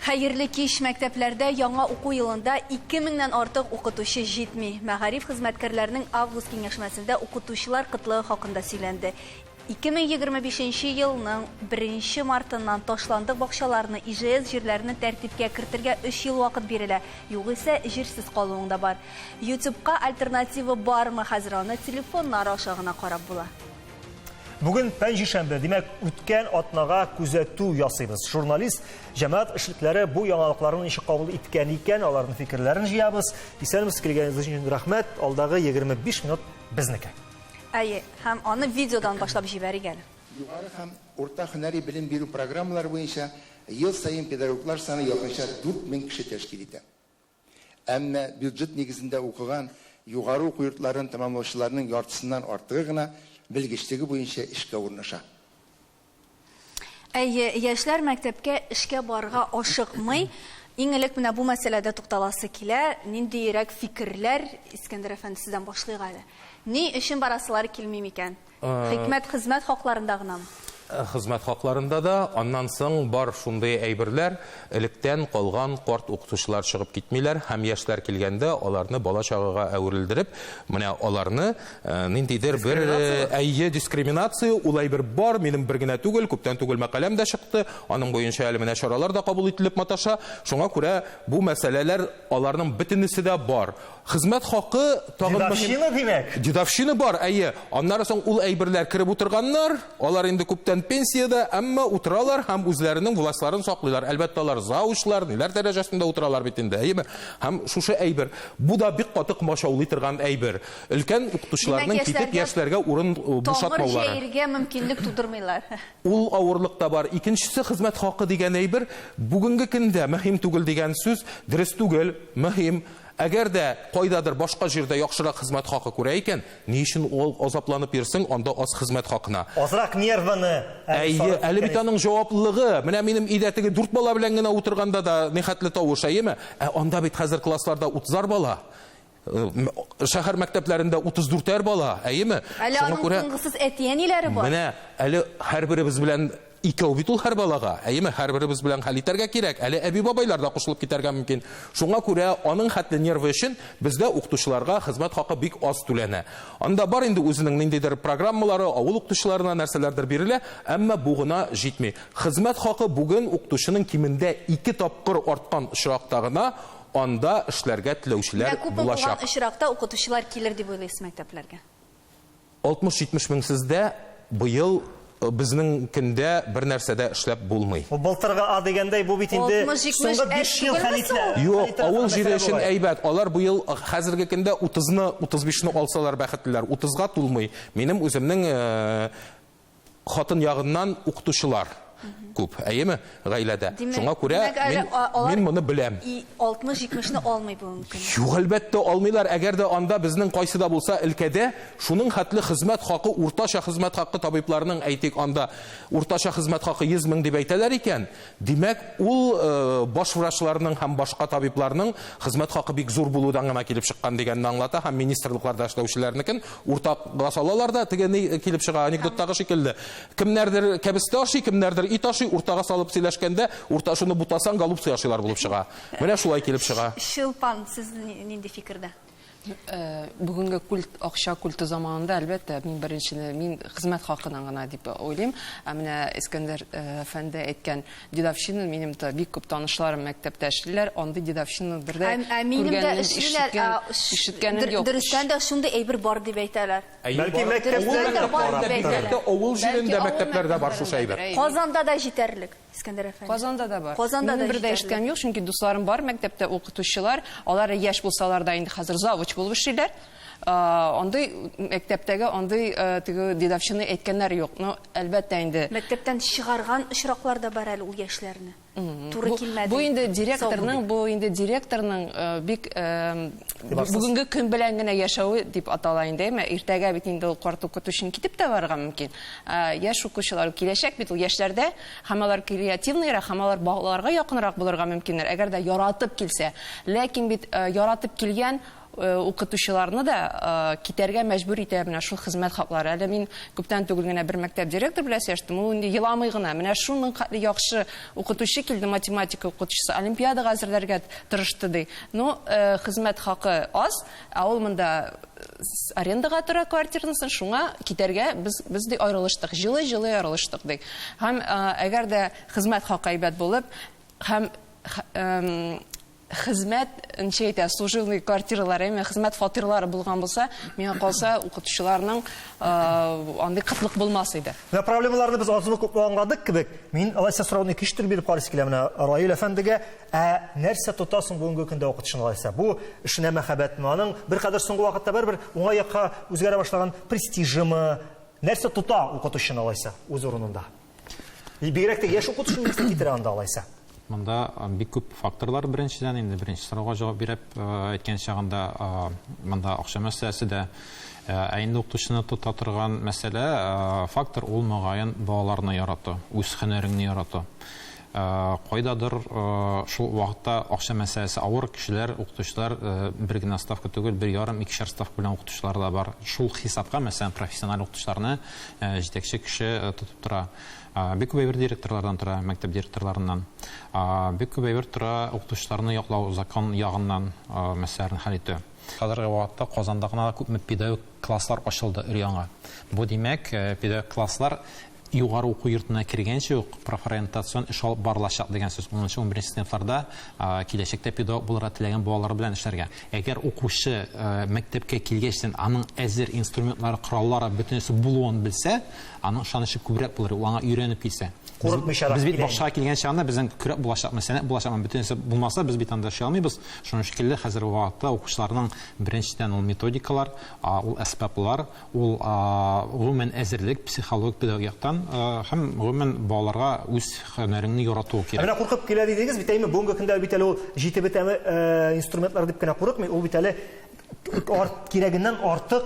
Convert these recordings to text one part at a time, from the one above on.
Хәерле кич мәктәпләрдә яңа уку елында 2000-нән артык укытучы җитми. Мәгариф хезмәткәрләренең август киңәшмәсендә укытучылар кытлыгы хакында сөйләнде. 2025 нче елның 1 нче мартыннан ташландык бакчаларны, ижс җирләрне тәртипкә кертергә 3 ел вакыт бирелә, югыйсә җирсез калуың да бар. Ютюбка альтернатива бармы, хәзер аны телефоннар аша гына карап була. Бүген пәнҗешәмбе, димәк, үткән атнага күзәтү ясыйбыз. Журналист, җәмәгать эшлекләре бу яңалыкларны ничек кабул иткән икән, аларның фикерләрен җыябыз. Исәнмесез, килгәнегез өчен рәхмәт. Алдагы 25 минут безнеке. Әйе, һәм аны видеодан башлап җибәрик әле. Югары һәм урта һөнәри белем бирү программалары буенча ел саен педагоглар саны якынча 4000 кеше тәшкил итә. Әмма бюджет нигезендә укыган югары уку йортларын тәмамлаучыларның яртысыннан артыгы гына белгечлеге буенча эшкә урнаша. Әйе, яшьләр мәктәпкә эшкә барырга ашыкмый. Иң элек менә бу мәсьәләдә тукталасы килә. Ниндиерәк фикерләр, Искәндәр әфәнде, сездән башлыйк әле. Ни өчен барасылары килми микән? Хикмәт хезмәт хакларында гынамы? Хезмәт хакларында да, аннан соң бар шундый әйберләр, электән калган карт укытучылар чыгып китмиләр һәм яшьләр килгәндә аларны бала-чагага әверелдереп, менә аларны Э, ниндидер бер э, әйе дискриминация ул әйбер бар минем бер генә түгел күптән түгел мәкаләм дә чыкты аның буенча әле менә чаралар да кабул ителеп маташа шуңа күрә бу мәсьәләләр аларның бөтенесе дә бар хезмәт хакы тагын дедовщина димәк дедовщина бар әйе аннары соң ул әйберләр кереп утырганнар алар инде күптән пенсиядә әмма утыралар һәм үзләренең властьларын саклыйлар әлбәттә алар заучлар ниләр дәрәҗәсендә утыралар бит инде әйеме һәм шушы әйбер бу да бик каты комачаулый торган әйбер Өлкән укытучыларның китеп яшьләргә урын бушатмаулары. Тамыр җәергә мөмкинлек тудырмыйлар. Ул авырлык та бар. Икенчесе хезмәт хакы дигән әйбер бүгенге көндә мөһим түгел дигән сүз дөрес түгел, мөһим. Әгәр дә кайдадыр башка җирдә яхшырак хезмәт хакы күрә икән, ни өчен ул азапланып йөрсең анда аз хезмәт хакына? Азрак нервыны әле сарыф иткән. Әйе, әле бит аның җаваплылыгы. Менә минем өйдә теге дүрт бала белән генә утырганда да нихәтле тавыш, әйеме? Ә анда бит хәзер классларда утызар бала. Шәһәр мәктәпләрендә 34-әр бала, әйеме? Әле аның күрә... тынгысыз әти-әниләре бар. Менә, әле һәрберебез белән икәү бит ул һәр балага. Әйеме, һәрберебез белән хәл итәргә кирәк. Әле әби-бабайлар да кушылып китәргә мөмкин. Шуңа күрә аның хәтле нервы өчен бездә укытучыларга хезмәт хакы бик аз түләнә. Анда бар инде үзенең ниндидер программалары, авыл укытучыларына нәрсәләрдер бирелә, әмма бу гына җитми. Хезмәт хакы бүген укытучының кимендә ике тапкыр арткан очракта гына Анда эшләргә теләүчеләр Менә күпме булган булачак. очракта укытучылар килер дип уйлыйсыз мәктәпләргә? 60-70 мең сездә быел безнең көндә бер нәрсә дә эшләп булмый. Бу былтыргы а дигәндәй, бу бит инде 60-70 соңгы әз биш ел түгелме хәлитле, соң ул? Юк, хәлитле авыл җире мәсьәлә өчен булай. әйбәт. Алар быел хәзерге көндә 30-ны, 35-ны алсалар бәхетлеләр. 30-га тулмый. Минем үземнең Хатын ягыннан укытучылар күп, әйеме, гаиләдә. Шуңа күрә мин моны беләм. 60-70 не алмый бу мөмкин. Юк, әлбәттә, алмыйлар. Әгәр дә анда безнең кайсы да булса өлкәдә шуның хәтле хезмәт хакы, уртача хезмәт хакы табибларның, әйтик, анда уртача хезмәт хакы 100 мең дип әйтәләр икән, Димәк, ул баш врачларның һәм башка табибларның хезмәт хакы бик зур булудан гына килеп чыккан дигәнне аңлата һәм министрлыкларда эшләүчеләрнекен уртага салалар да, теге ни килеп чыга, анекдоттагы шикелле. Кемнәрдер кәбестә ашый, кемнәрдер ит ашый, уртага салып сөйләшкәндә, урта шуны бутасаң, голубцы ашыйлар булып чыга. Менә шулай килеп чыга. Чулпан, сез нинди фикердә? Бүгенге культ, акча культы заманында, әлбәттә, мин беренчене, мин хезмәт хакына гына дип уйлыйм. Ә менә Искәндәр әфәнде әйткән дедовщина, минем дә бик күп танышларым мәктәптә эшлиләр, андый дедовщина бер дә күргәнем, ишеткәнем, ишеткәнем юк. Дөрестән дә шундый әйбер бар дип әйтәләр. Бәлки мәктәптә, авыл җирендә мәктәпләрдә бар шушы әйбер. Казанда да җитәрлек. Искәндәр әфәнде. Казанда да бар. Казанда Минем да бер дә җитәрлек. эшкәм юк, чөнки дусларым бар мәктәптә укытучылар. Алар яшь булсалар да инде хәзер завуч булып эшлиләр. А, Андый мәктәптәге андый э, теге дедовщина әйткәннәр юк. Но әлбәттә инде Мәктәптән чыгарган очраклар да бар әле ул яшьләрне. Туры бу, килмәде. бу инде директорның, Сау бу инде директорның э, бик э, Игътибарсыз. бүгенге көн белән генә яшәве дип атала инде. Әмма иртәгә бит инде ул карт укытучының китеп тә барырга мөмкин. Ә, яшь укучылар, киләчәк бит ул яшьләрдә, һәм алар креативныйрак, һәм алар балаларга якынрак булырга мөмкиннәр, әгәр дә яратып килсә. Ләкин бит э, яратып килгән э, укытучыларны да э, китәргә мәҗбүр итә менә шул хезмәт хаклары. Әле мин күптән түгел генә бер мәктәп директор белән сөйләштем, ул инде еламый гына. Менә шуның хәтле яхшы укытучы килде, математика укытучысы, олимпиадага әзерләргә тырышты ди. Но э, хезмәт хакы аз, Ә ул монда арендага тора квартирасын, шуңа китәргә без без ди аерылыштык. Җылы-җылы аерылыштык ди. Һәм әгәр дә хезмәт хакы әйбәт булып, һәм хезмәт ничә әйтә, служивный квартиралары, яме хезмәт фатирлары булган булса, миңа калса, укытучыларның андый кытлык булмас иде. Менә проблемаларны без азмы күпме аңладык кебек, мин алайса сорауны икенче төрле биреп карыйсы килә менә Раил әфәндегә. Ә нәрсә тота соң бүгенге көндә укытучыны алайса? Бу эшенә мәхәббәтме? Аның беркадәр соңгы вакытта бер-бер уңай якка үзгәрә башлаган престижымы? Нәрсә тота укытучыны алайса үз урынында? Бигрәк тә яшь укытучы нәрсә китерә анда алайса? Монда бик күп факторлар беренчедән инде беренче сорауга җавап биреп әйткән чагында монда акча мәсьәләсе дә ә инде укытучыны тота торган мәсьәлә фактор ул мөгаен балаларны ярату үз һөнәреңне ярату Кайдадыр шул вакытта акча мәсьәләсе авыр, кешеләр, укытучылар бер генә ставка түгел, бер ярым, икешәр ставка белән укытучылар да бар. Шул хисапка, мәсәлән, профессиональ укытучыларны җитәкче кеше тотып тора. Бик күп әйбер директорлардан тора, мәктәп директорларыннан. Бик күп әйбер тора укытучыларны яклау, закон ягыннан мәсьәләләрне хәл итү. Хәзерге вакытта Казанда гына күпме педагогик класслар ачылды өр-яңа. Бу димәк, педагогик класслар Югары уку йортына кергәнче үк профориентацион эш алып барылачак дигән сүз. Унынчы, унберенче сыйныфларда киләчәктә педагог булырга теләгән балалар белән эшләргә. Әгәр укучы мәктәпкә килгәчтен аның әзер инструментлары, кораллары, бөтенесе булуын белсә, аның ышанычы күбрәк булыр, ул аңа өйрәнеп килсә. Курыкмыйчарак килә инде. Без бит бакчага килгән чагында безнең көрәк булачакмы, сәнәк булачакмы, бөтенесе булмаса, без бит анда эшли алмыйбыз. Шуның шикелле, хәзерге вакытта укучыларның беренчедән ул методикалар, ул әсбаплар, Ул, гомумән, әзерлек, психологик, педагогик яктан һәм, гомумән, балаларга үз һөнәреңне яратуы кирәк. Ә менә куркып килә дидегез бит, әйме? Бүгенге көндә бит әле ул җитеп бетәме инструментлар дип кенә курыкмый, ул бит әле кирәгеннән артык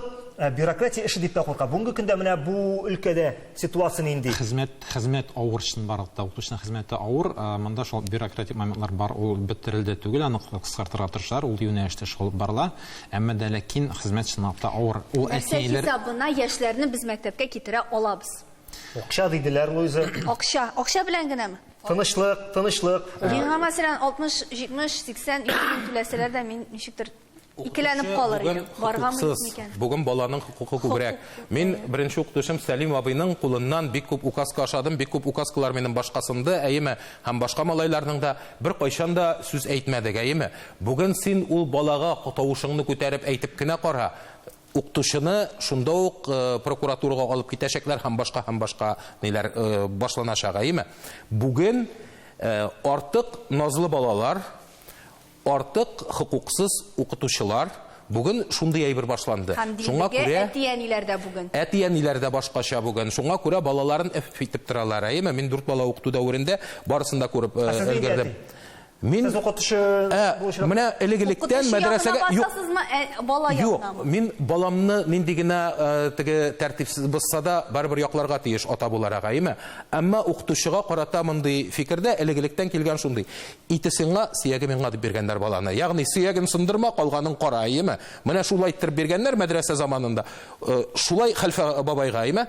бюрократия эше дип тә курка. Бүгенге көндә менә бу өлкәдә ситуация нинди? Хезмәт, хезмәт авыр чынбарлык та. Укытучының хезмәте авыр. Монда шул бюрократик моментлар бар, ул бетерелде түгел, аны кыскартырга тырышалар, ул юнәлештә шул алып барыла. Әмма дә ләкин хезмәт чынлап та авыр. Ул Нәрсә әтиәйләр... хисабына яшьләрне без мәктәпкә китерә алабыз? Акча диделәр, Луиза. Акча. Акча белән генәме? Тынычлык, тынычлык. Миңа, мәсәлән, 60, 70, 80, 200 мең түләсәләр дә, мин ничектер икеләнеп калыр идем. Баргамы, юкмы икән? Бүген баланың хокукы күбрәк. Мин беренче укытучым Сәлим абыйның кулыннан бик күп указка ашадым, бик күп указкалар минем башка сынды, әйеме? Һәм башка малайларның да. Беркайчан да сүз әйтмәдек, әйеме? Бүген син ул балага тавышыңны күтәреп әйтеп кенә кара, укытучыны шунда ук прокуратурага алып китәчәкләр һәм башка һәм башка ниләр башланачак, әйеме? Бүген артык назлы балалар, артык хокуксыз укытучылар, бүген шундый әйбер башланды. Шуңа күрә әти-әниләр дә бүген. Әти-әниләр дә башкача бүген. Шуңа күрә балаларын эф итеп торалар, әйеме? Мин дүрт бала укыту дәверендә барысын да күреп өлгердем. Мин Сез укытучы булачак. Менә элек-электән мәдрәсәгә юк. Укытучы э, бала Юк, мин баламны нинди генә э, теге тәртипсез булса да, барыбер якларга тиеш ата буларак, әйме? Әмма укытучыга карата мондый фикердә элек-электән килгән шундый. Ите сиңа, сөяге миңа дип биргәннәр баланы. Ягъни сөяген сындырма, калганын кара, әйме? Менә шулай иттереп биргәннәр мәдрәсә заманында. Э, шулай хәлфә бабайга, әйме?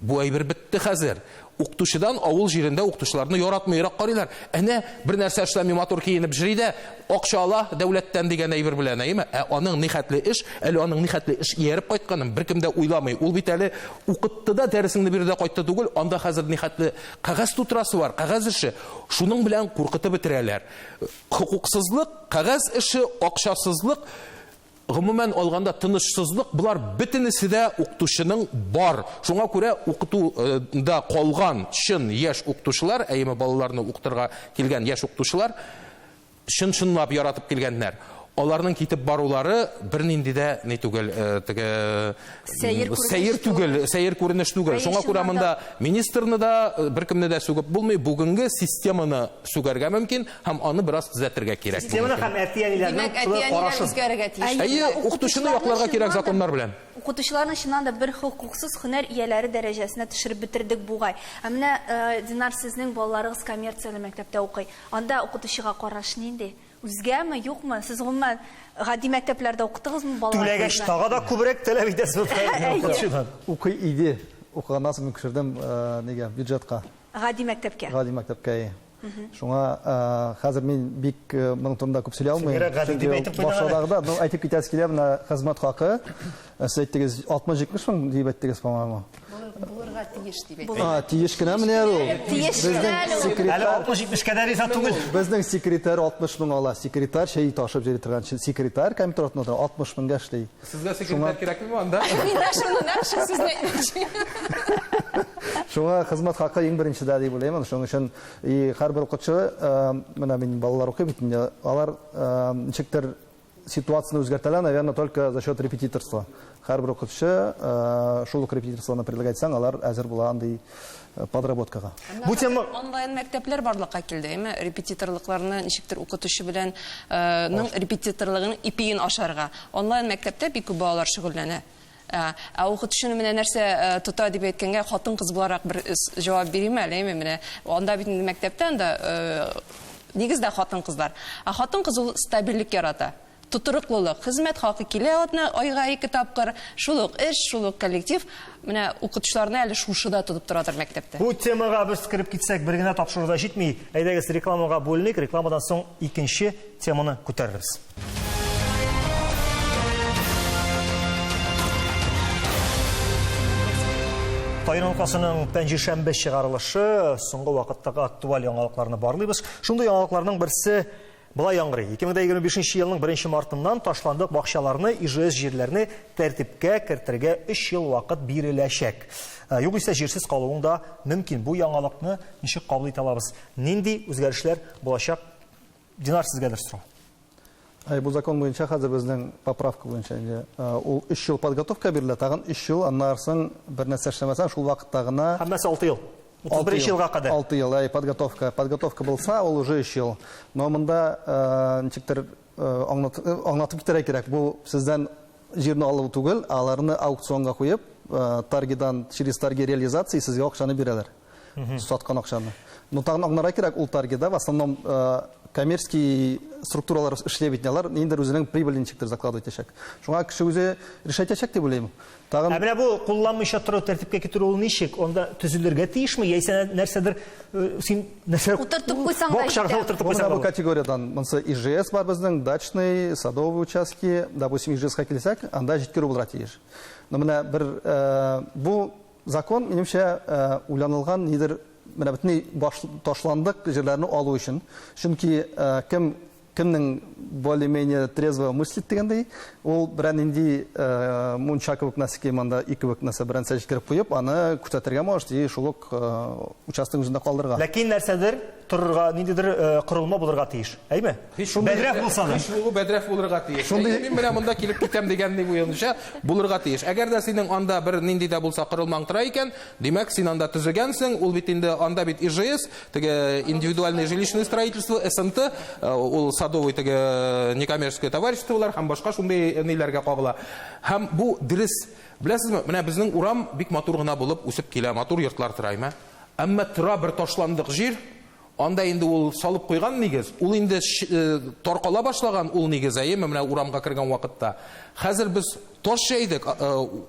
Бу әйбер бетте хәзер. Укытучыдан авыл җирендә укытучыларны яратмыйрак карыйлар. Әнә, бер нәрсә эшләми, матур киенеп җри дә, акча ала дәүләттән дигән әйбер белән, әйеме? Ә аның нихәтле эш, әле аның нихәтле эш ияреп кайтканын беркем дә уйламый. Ул бит әле укытты да, дәресеңне бирде дә кайтты түгел, анда хәзер нихәтле кәгазь тутырасы бар, кәгазь эше. Шуның белән куркытып бетерәләр. Хокуксызлык, кәгазь эше, акчасызлык, Гомумән алганда, тынычсызлык болар бөтенесе дә укытучының бар. Шуңа күрә укыту да калган чын яшь укытучылар, әйеме балаларны укытырга килгән яшь укытучылар чын-чынлап яратып килгәннәр. Аларның китеп барулары бернинди дә ни түгел, теге сәер күренеш, сәер түгел, сәер күренеш түгел. Шуңа күрә монда министрны да, беркемне дә сүгеп булмый. Бүгенге системаны сүгәргә мөмкин. Һәм аны бераз төзәтергә кирәк. Системаны һәм әти-әниләрнең шулай карашын. Үзгәрергә тиеш. Әйе, укытучыны якларга кирәк законнар белән. Укытучыларны чыннан да бер хокуксыз һөнәр ияләре дәрәҗәсенә төшереп бетердек бугай. Ә менә Динар сезнең балаларыгыз коммерцияле мәктәптә укый. Анда укытучыга караш нинди? Үзгәме, юкмы? Сез гомумән гади мәктәпләрдә укытыгызмы балаларны? Түләгәч тагы да күбрәк таләп итәсез укытучыдан. Укый иде. Укыганнан соң мин күчердем нигә, бюджетка. Гади мәктәпкә. Гади мәктәпкә, әйе. Шуңа хәзер мин бик моның турында күп сөйли алмыйм. Сеңгерәк гади дип әйтеп куйдың. Башладагы да, ну әйтеп китәс килә, менә хезмәт хакы. Сез әйттегез 60-70 сум дип әйттегез, по-моему. Булырга тиеш дип әйттегез. А, тиеш кенә менә ул. Тиеш кенә ул. Әле 60-70 кадәр исә түгел. Безнең секретарь 60 мең ала. Секретарь чәй ташып җыри торган секретарь компьютер артында 60 меңгә эшли. Сезгә секретарь кирәкме бу анда? Миңа шуны нәкъ шул сүзне әйтмәкче. Шуңа хезмәт хакы иң беренче дә дип уйлыйм. Шуның өчен и һәрбер укытучы, менә мин балалар укый бит инде, алар ничектер ситуацияне үзгәртәләр, наверное, только за счет репетиторства. Һәрбер укытучы шул ук репетиторствоны предлагать итсәң, алар әзер була андый подработкага. Бу тема Онлайн мәктәпләр барлыкка килде, әйме? Репетиторлыкларны ничектер укытучы белән ның репетиторлыгының ипиен ашарга. Онлайн мәктәптә бик күп балалар шөгыльләнә. Ә укытучыны менә нәрсә тота дип әйткәнгә, хатын-кыз буларак бер җавап бирим әле, әйме? Менә анда бит инде мәктәптә анда нигездә хатын-кызлар. Ә хатын-кыз ул стабильлек ярата. Тотрыклылык, хезмәт хакы килә атна, айга ике тапкыр, шул ук эш, шул ук коллектив. Менә укытучыларны әле шушы да тотып торадыр мәктәптә. Бу темага без кереп китсәк, бер генә тапшыру да җитми. Әйдәгез, рекламага бүленик, рекламадан соң икенче теманы күтәрербез. Тайын алкасының пәнҗешәмбе чыгарылышы, соңгы вакыттагы актуаль яңалыкларны барлыйбыз. Шундый яңалыкларның берсе Болай яңгырый, 2025 нче елның беренче мартыннан ташландык бакчаларны, ижс җирләрне тәртипкә кертергә өч ел вакыт биреләчәк. Ә, Югыйсә җирсез калуың да мөмкин. Бу яңалыкны ничек кабул итә алабыз? Нинди үзгәрешләр булачак? Динар, сезгәдер сорау. Әй, бу закон буенча хәзер безнең поправка буенча инде а, ул өч ел подготовка бирелә, тагын өч ел, аннарсың бернәрсә эшләмәсәң, шул вакытта гына Һәммәсе алты ел. 31 ел, елга кадәр. 6 ел, әй, подготовка. Подготовка булса, ул уже 3 ел. Но монда э, ничектер э, аңлат, э, аңлатып китерә кирәк. Бу сездән җирне алу түгел, а аларны аукционга куеп, э, торгидан через торги реализации сезгә акчаны бирәләр. Саткан акчаны. Но тагын аңларга кирәк, ул торгида в основном э, коммерческий структуралар эшли бит, алар ниндидер үзенең прибыль ничектер заклад итәчәк. Шуңа кеше үзе решать итәчәк дип уйлыйм. Ә менә бу кулланмыйча тору тәртипкә китерү ул ничек? Анда төзелергә тиешме? Яисә нәрсәдер э, син нәрсә утыртып куйсаң да җитә. утыртып куйсаң. Бу категориядән монсы ИЖС бар безнең, дачный, садовый участки, допустим, ИЖСка килсәк, анда җиткерү булырга тиеш. Но менә бер э, бу закон минемчә э, уйланылган нидер менә бөтенләй ташландык җирләрне алу өчен. Чөнки кем Кемнең более-менее трезво мыслит дигәндәй, ул берәнинди мунча кебек нәрсә кыйманда и кебек нәрсә бернәрсә җиткереп куеп, аны күрсәтергә может и шул ук участок үзендә калдырырга. Ләкин нәрсәдер торырга, ниндидер корылма булырга тиеш. Әйме? Бәдрәф булса да. Һич булу бәдрәф булырга тиеш. Әйе, мин менә монда килеп китәм дигәнни буенча булырга тиеш. Әгәр дә синең анда бер нинди дә булса корылмаң тора икән, димәк, син анда төзегәнсең, ул бит инде анда бит ижс, Теге индивидуальное жилищное строительство, СНТ, э, ул садовый теге э, некоммерческое товариществолар һәм башка шундый ниләргә кагыла. Һәм бу дөрес. Беләсезме, менә безнең урам бик матур гына булып үсеп килә, матур йортлар тора, әмма әмма тора бер ташландык җир, анда инде ул салып куйган нигез, ул инде э, таркала башлаган ул нигез, әйеме, менә урамга кергән вакытта. Хәзер без таш җәйдек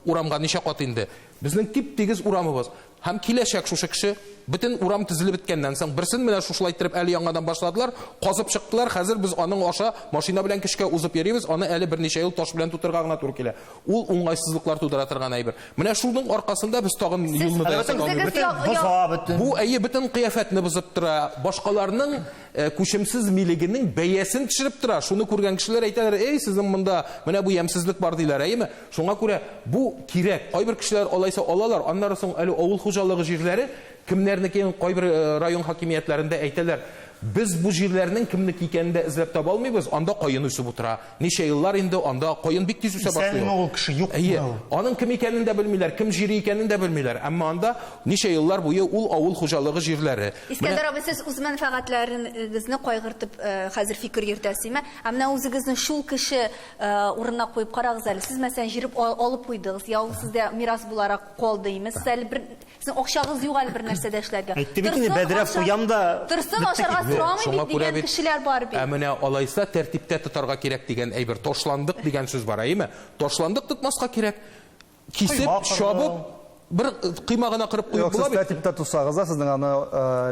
урамга ничә кат инде. Безнең тип-тигез урамыбыз. Һәм киләчәк шушы кеше. Бөтен урам төзелеп беткәннән соң, берсен менә шушылай иттереп әле яңадан башладылар, казып чыктылар, хәзер без аның аша машина белән көчкә узып йөрибез, аны әле берничә ел таш белән тутырырга гына туры килә. Ул уңайсызлыклар тудыра торган әйбер. Менә шуның аркасында без тагын юлны да ясап Үзегез алмыйбыз. я- Бөтен боза, бөтен. Бу, әйе, бөтен кыяфәтне бозып тора, башкаларның э, күчемсез милегенең бәясен төшереп тора. Шуны күргән кешеләр әйтәләр, Эй, сезнең монда менә бу ямьсезлек бар, диләр, әйеме? Шуңа күрә бу кирәк. Кайбер кешеләр алайса алалар, аннары соң әле авыл хуҗалыгы җирләре кемнәрнекен кайбер район хакимиятләрендә әйтәләр, без бу җирләрнең кемнеке икәнен дә эзләп таба алмыйбыз, анда каен үсеп утыра. Ничә еллар инде анда каен бик тиз үсә башлый ул. Әйе, аның кем икәнен дә белмиләр, кем җире икәнен дә белмиләр, әмма анда ничә еллар буе ул авыл хуҗалыгы җирләре. Искәндәр абый, сез үз мәнфәгатьләрегезне кайгыртып хәзер фикер йөртәсеме? Ә менә үзегезне шул кеше Э, урынына куеп карагыз әле сез мәсәлән җырып алып куйдыгыз я ул сездә мирас буларак калды име сез әле бер сез акчагыз юк әле бер нәрсә дә эшләргә әйтте бит инде бәдрәф куям да торсын ашарга сорамый бит дигән кешеләр бар бит ә менә алайса тәртиптә тотарга кирәк дигән әйбер ташландык дигән сүз бар әйеме ташландык тотмаска кирәк Кисеп, чабып, бер койма гына кырып куеп була бит. Юк, сез тәртиптә тотсагыз да, сезнең аны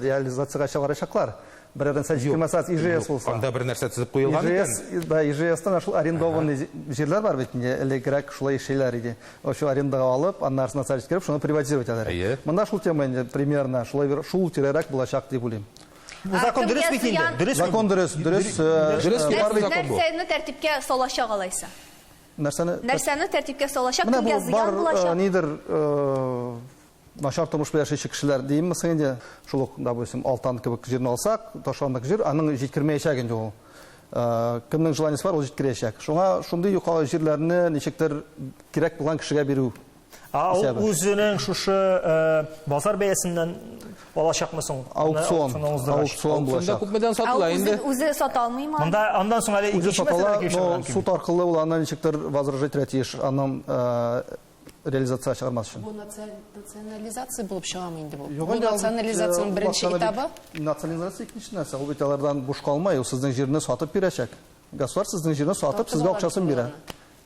реализациягә чыгарачаклар. Берәрдән сәт җиткермәсәгез, ИЖС булса. Анда бер нәрсә төзеп куелган икән. ИЖС, да, ИЖСта менә шул арендованный җирләр бар бит инде, элегрәк шулай эшлиләр иде. Очу арендага алып, аннан арасына сәт җиткереп, шуны приватизировать итәләр. Монда шул тема инде примерно шулай бер шул тирәрәк булачак дип уйлыйм. Бу закон дөрес бит инде. Дөрес. Закон дөрес, дөрес. Нәрсәне тәртипкә салачак алайса? Нәрсәне? Нәрсәне тәртипкә салачак, кемгә зыян булачак? Менә бу бар, нидер, начар тормыш белән яшәүче кешеләр димме соң инде, шул ук, допустим, Алтан кебек җирне алсак, ташландык җир, аның җиткермәячәк инде ул. Кемнең желаниесе бар, ул җиткерәчәк. Шуңа шундый юка җирләрне ничектер кирәк булган кешегә бирү. А ул үзенең шушы э, базар бәясеннән алачакмы соң? Аукцион. Аукцион булачак. Күпмедән сатыла инде? Үзе сата алмыймы? Монда андан соң әле икенче мәсьәлә кишелгән. Ну, суд аркылы ул аны ничектер возражать тиеш, аның э, реализация чыгармас өчен. Бу национализация булып чыгамы инде бу? Бу национализациянең беренче этабы? Национализация икенче нәрсә, ул бит алардан буш калмай, ул сезнең җирне сатып бирәчәк. Государство сезнең җирне сатып, сезгә акчасын бирә.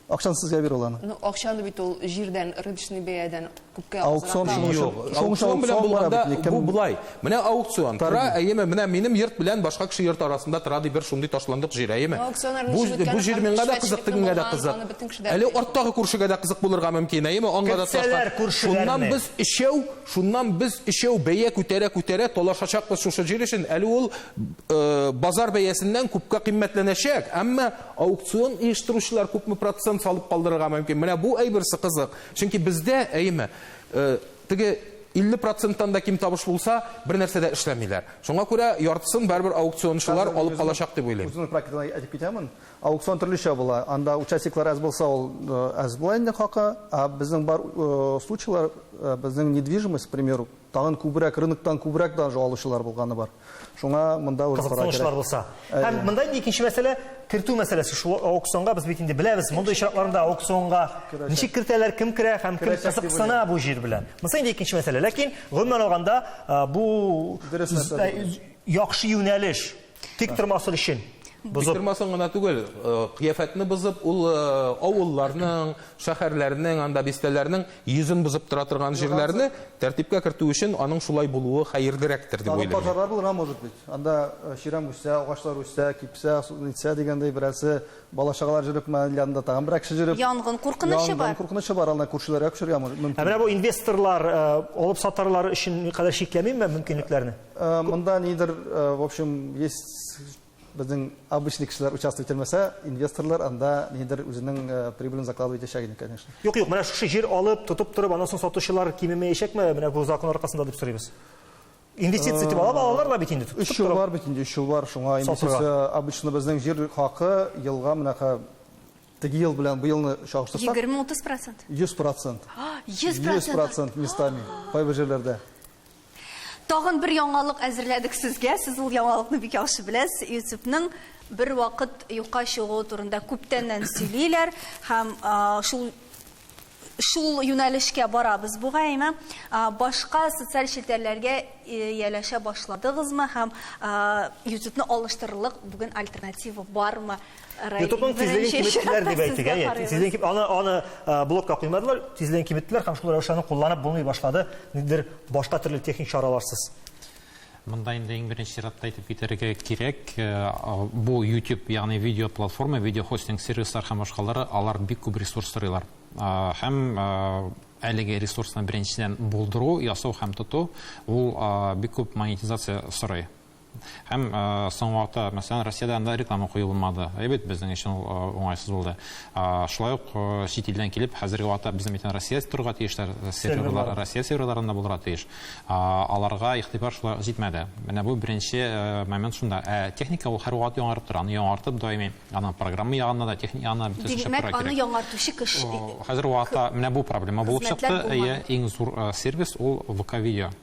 Акчаны сезгә бир ул аны. Ну, акчаны бит ул җирдән, рыночный бәядән күпкә Аукцион азрак. шуның өчен. Юк, Шуның өчен аукцион белән аукцион бара булганда бит, никем- бу болай. Менә аукцион Тар тора, бит. әйеме, менә минем йорт белән башка кеше йорты арасында тора ди бер шундый ташландык җир, әйеме? Ну, аукцион әле Бу ничек үткәне бу җир һәм миңа да кызык, эшмәтчелекне тегеңә дә булган, кызык. аны бөтен кеше дә Әле белә. арттагы күршегә дә кызык булырга мөмкин, әйеме? Аңа да Кертсәләр ташлар. күршеләрне. Шуннан без өчәү, шуннан без өчәү бәя күтәрә-күтәрә талашачакбыз шушы җир өчен. Әле ул э, базар бәясеннән күпкә кыйммәтләнәчәк, әмма Аукцион оештыручылар күпме процент салып калдырырга мөмкин? Менә бу әйберсе кызык. Чөнки бездә, әйеме, э, теге 50 проценттан да ким табыш булса, бер нәрсә дә эшләмиләр. Шуңа күрә яртысын барыбер аукциончылар алып калачак дип уйлыйм. Үземнең практикадан әйтеп китәмен. Аукцион төрлечә була. Анда участниклар әз булса, ул э, әз була инде хакы. Ә безнең бар э, случайлар, э, безнең недвижимость, к примеру, Тагын күбрәк, рыноктан күбрәк даже алучылар булганы бар. Шуңа монда уже карар кирәк. Кызыксынычлар булса. Һәм монда инде икенче мәсьәлә, кертү мәсьәләсе. Шул аукционга без бит инде беләбез, мондый очракларда аукционга ничек кертәләр, кем керә һәм кем кызыксына бу җир белән. Монысы инде икенче мәсьәлә. Ләкин, гомумән алганда, бу яхшы юнәлеш. Тик тормасын өчен. Бозып. Тормасын гына түгел, э, кыяфәтне бозып, ул э, авылларның, шәһәрләрнең, анда бистәләрнең йөзен бозып тора торган җирләрне тәртипкә кертү өчен аның шулай булуы хәерлерәктер дип уйлыйм. Пожарлар булырга может быть. Анда э, чирам үсә, агачлар үсә, кипсә, үсә дигәндәй берәрсе бала чагалар җөреп, янында тагын берәр кеше җөреп. Янгын куркынычы бар. Янгын куркынычы бар, аны күршеләргә күчерергә мөмкин. Ә менә бу инвесторлар, алып сатарлар өчен кадәр чикләмиме мөмкинлекләрне? Э, монда нидер, э, в общем, есть безнең обычный кешеләр участвовать итмәсә, инвесторлар анда нидер үзенең э, прибылен закладывать итәчәк инде, конечно. Юк, юк, менә шушы җир алып, тотып торып, аннан соң сатучылар кимемәячәкме? Менә бу закон аркасында дип сорыйбыз. Инвестиция дип алып алалар да бит инде. Өч ел бар бит инде, өч ел бар. Шуңа инвестиция обычно безнең җир хакы елга менә теге ел белән бу елны чагыштырсак. 20-30%. 100%. 100%. 100% местами. Кайбер җирләрдә. Тагын бер яңалык әзерләдек сезгә. Сез ул яңалыкны бик яхшы беләсез. Ютубның бер вакыт юкка чыгуы турында күптәннән сөйлиләр һәм шул шул юнәлешкә барабыз бугайымы башка социаль челтәрләргә ияләшә башладыгызмы һәм ютубны алыштырырлык бүген альтернатива бармы Ютубның тизлеген киметтеләр дип әйтик, әйе. Тизлеген ким, аны аны блокка куймадылар, тизлеген киметтеләр һәм шул рәвешле аны кулланып булмый башлады, нидер башка төрле техник чараларсыз. Монда инде иң беренче чиратта әйтеп китәргә кирәк, бу YouTube, ягъни видео платформа, видео хостинг сервислар һәм башкалары, алар бик күп ресурс сорыйлар. Һәм әлеге ресурсны беренчедән булдыру, ясау һәм тоту, ул бик күп монетизация сорый. Һәм соңгы вакытта, мәсәлән, Россиядә анда реклама кую булмады. Ә бит безнең өчен уңайсыз булды. Шулай ук чит илдән килеп, хәзерге вакытта безнең бит Россия торырга тиешләр, серверлар Россия серверларында булырга тиеш. Аларга игътибар шулай ук җитмәде. Менә бу беренче момент шунда. Ә техника ул һәрвакыт яңарып тора. Аны яңартып даими, аның программа ягында да, техника ягында да бөтенесе чыгып тора кирәк. Димәк, аны яңартучы кеше. Хәзерге вакытта менә бу проблема булып чыкты. Хезмәтләр булмады. Иң зур сервис ул ВК-видео.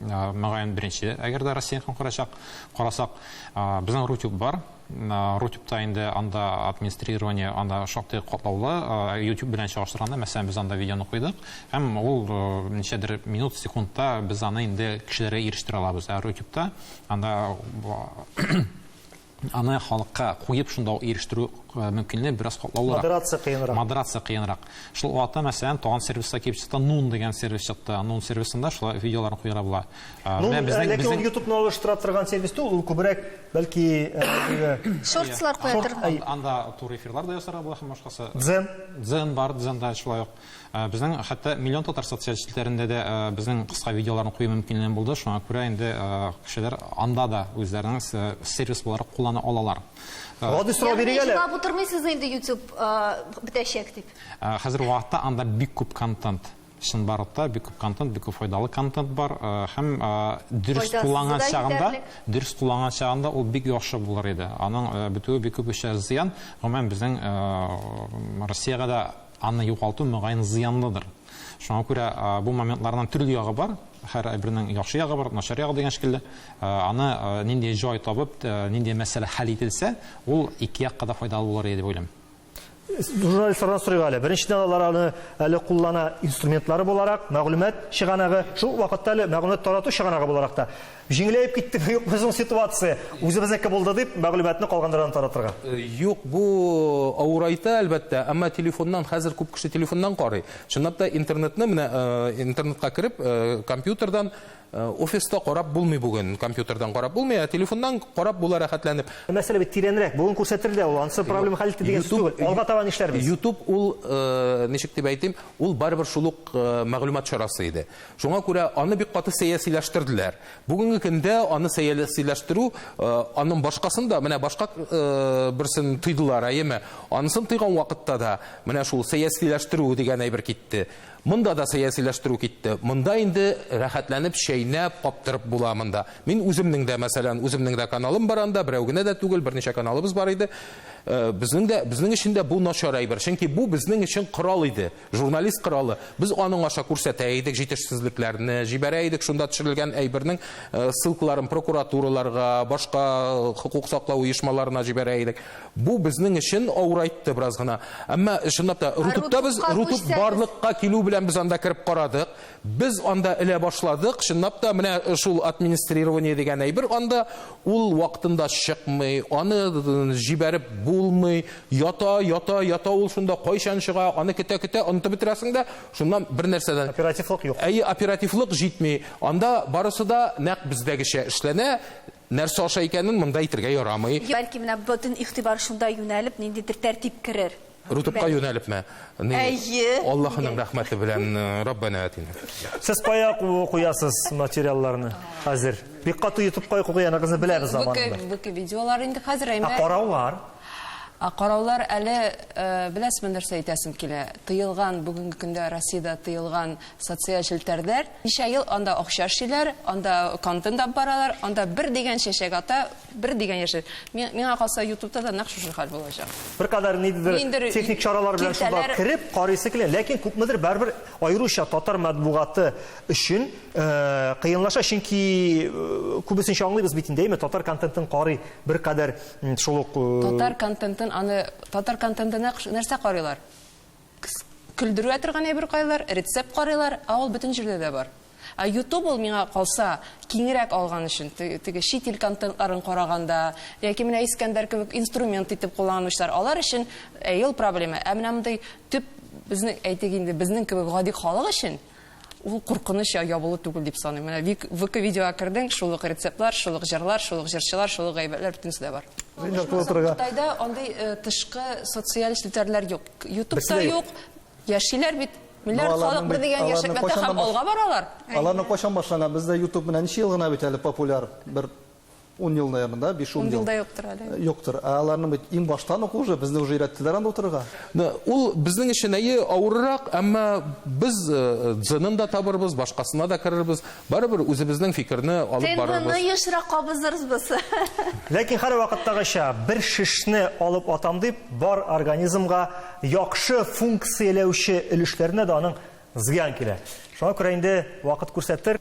Мөгаен беренче, әгәр дә Россияныкын карачак, карасак, безнең Рутюб бар. Рутюбта инде анда администрирование анда шактый катлаулы. YouTube белән чагыштырганда, мәсәлән, без анда видеоны куйдык, һәм ул ничәдер минут, секундта без аны инде кешеләргә ирештерә алабыз. Ә Рутюбта анда Аны халыкка куеп шунда ук ирештерү мөмкинлеге бераз катлаулырак. Модерация кыенрак. Модерация кыенрак. Шул вакытта, мәсәлән, тагын сервиска килеп чыкты, Нун дигән сервис чыкты. Нун сервисында шулай видеоларны куярга була. Ну, ләкин ул ютубны алыштыра торган сервис түгел, ул күбрәк, бәлки, шортслар куя торган. Анда тур эфирлар да ясарга була һәм башкасы. Дзен. Дзен бар, дзен да шулай ук. Э, безнең хәтта миллион татар социаль челтәрендә дә э, безнең кыска видеоларны кую мөмкинлеге булды шуңа күрә инде э, кешеләр анда да үзләренең сервис буларак куллана алалар гади сорау бирик әле җыйлап утырмыйсыз инде ютуб бетәчәк дип хәзерге вакытта анда бик күп контент чынбарлыкта бик күп контент бик күп файдалы контент бар һәм дөрес кулланган чагында дөрес кулланган чагында ул бик яхшы булыр иде аның бетүе бик күп эшләр зыян гомумән безнең россиягә дә Аны югалту, мөгаен, зыянлыдыр. Шуңа күрә бу моментларның төрле ягы бар. Һәр әйбернең яхшы ягы бар, начар ягы дигән шикелле. Аны нинди җай табып, нинди мәсьәлә хәл ителсә, ул ике якка да файдалы булыр иде дип уйлыйм. Журналистлардан сорыйк әле. Беренчедән, алар аны әле куллана инструментлары буларак, мәгълүмат чыганагы, шул ук вакытта әле мәгълүмат тарату чыганагы буларак та. Җиңеләеп киттеме, юкмы соң ситуация? Үзебезнеке булды дип, мәгълүматны калганнардан таратырга. Юк, бу авырайта, әлбәттә, әмма телефоннан, хәзер күп кеше телефоннан карый. Чынлап та интернетны, менә интернетка кереп, компьютердан офиста карап булмый бүген, компьютердан карап булмый, ә телефоннан карап була рәхәтләнеп. Мәсьәлә бит тирәнрәк, бүген күрсәтер дә ул, ансы проблема хәл итте дигән сүз түгел. Алга таба нишләрбез? Ютуб ул, ничек дип әйтим, ул барыбер шул ук мәгълүмат чарасы иде. Шуңа күрә аны бик каты сәясиләштерделәр. Бүгенге көндә аны сәясиләштерү, аның башкасын да, менә башка берсен тыйдылар, әйеме? Анысын тыйган вакытта да менә шул сәясиләштерү дигән әйбер китте. Монда да сәясиләштерү китте. Монда инде рәхәтләнеп чәйнәп, каптырып була монда. Мин үземнең дә, мәсәлән, үземнең дә каналым бар анда, берәү генә дә түгел, берничә каналыбыз бар иде. Безнең дә, безнең өчен дә бу начар әйбер, чөнки бу безнең өчен корал иде. Журналист коралы. Без аның аша күрсәтә идек җитешсезлекләрне, җибәрә идек шунда төшерелгән әйбернең ссылкаларын прокуратураларга, башка хокук саклау оешмаларына җибәрә идек. Бу безнең өчен авырайтты бераз гына. Әмма, чынлап та, Рутубта без, Рутуб барлыкка килү белән без анда кереп карадык. Без анда элә башладык, чынлап та, менә шул администрирование дигән әйбер анда Ул вакытында чыкмый, аны җибәреп булмый, ята, ята, ята ул шунда, кайчан чыга, аны көтә-көтә, онытып бетерәсең дә, шуннан бер нәрсәдән. Оперативлык юк. Әйе, оперативлык җитми. Анда барысы да нәкъ бездәгечә эшләнә, нәрсә аша икәнен монда әйтергә ярамый. Бәлки менә бөтен игътибар шунда юнәлеп, ниндидер тәртип керер. Рутубка юнәлепме? Әйе. Аллаһының рәхмәте белән Раббана атина. Сез кая куясыз материалларны хәзер? Бик каты ютуб кая куяныгызны беләбез заманында. Бүке видеолар инде хәзер әйме. Ә караулар? Ә караулар әле э, беләсезме нәрсә әйтәсем килә? Тыелган бүгенге көндә Россиядә тыелган социаль челтәрдәр. Ничә ел анда акча эшлиләр, анда контент алып баралар, анда бер дигән чәчәк ата Бер дигән яше. Миңа калса, ютубта да нәкъ шушы хәл булачак. Бер кадәр ниндидер техник чаралар белән шунда кереп карыйсы килә, ләкин күпмедер барыбер аеруча татар матбугаты өчен э, кыенлаша, чөнки э, күбесенчә аңлыйбыз бит инде, әйме, татар контентын карый бер кадәр шул ук э, Татар контентын аны татар контентына нәрсә карыйлар? Кз, көлдерүә торган әйбер кайлар, рецепт карыйлар, ә ул бөтен җирдә дә бар. Ә ютуб ул миңа калса, киңрәк алган өчен, теге чит ил контентларын караганда, яки менә Искәндәр кебек инструмент итеп кулланучылар, алар өчен әйе ул проблема, ә менә мондый төп, безнең, әйтик инде, безнең кебек гади халык өчен, Ул куркыныч я ябылу түгел дип саныйм. Менә вик, вк видеога кердең, шул ук рецептлар, шул ук җырлар, шул ук җырчылар, шул ук гайбәтләр, бөтенесе дә бар. Мин дә куя торырга. Кытайда андый э, тышкы социаль челтәрләр юк. Ютубта Берсе дә юк. юк. Яшиләр бит. Миллиард Ну, аларның халык бер бит- дигән аларның яшәкләрдә кайчаннан һәм баш- алга баралар. Аларны кайчан башлаган? Бездә YouTube менә ничә ел гына бит әле популяр бер Ун ел, наверное, да, биш ун ел. Ун ел да юктыр әле. Э, юктыр. Ә аларның бит иң баштан ук уже безне уже өйрәттеләр анда утырырга. Ул безнең өчен әйе авыррак, әмма без э, дзынын да табырбыз, башкасына да керербез. Барыбер үзебезнең фикерне алып барырбыз. Тендоны ешрак кабызырбыз. Ләкин һәр вакыттагыча бер шешне алып атам дип, бар организмга яхшы функцияләүче өлешләрне дә аның Зыян килә. Шуңа күрә инде вакыт күрсәтер.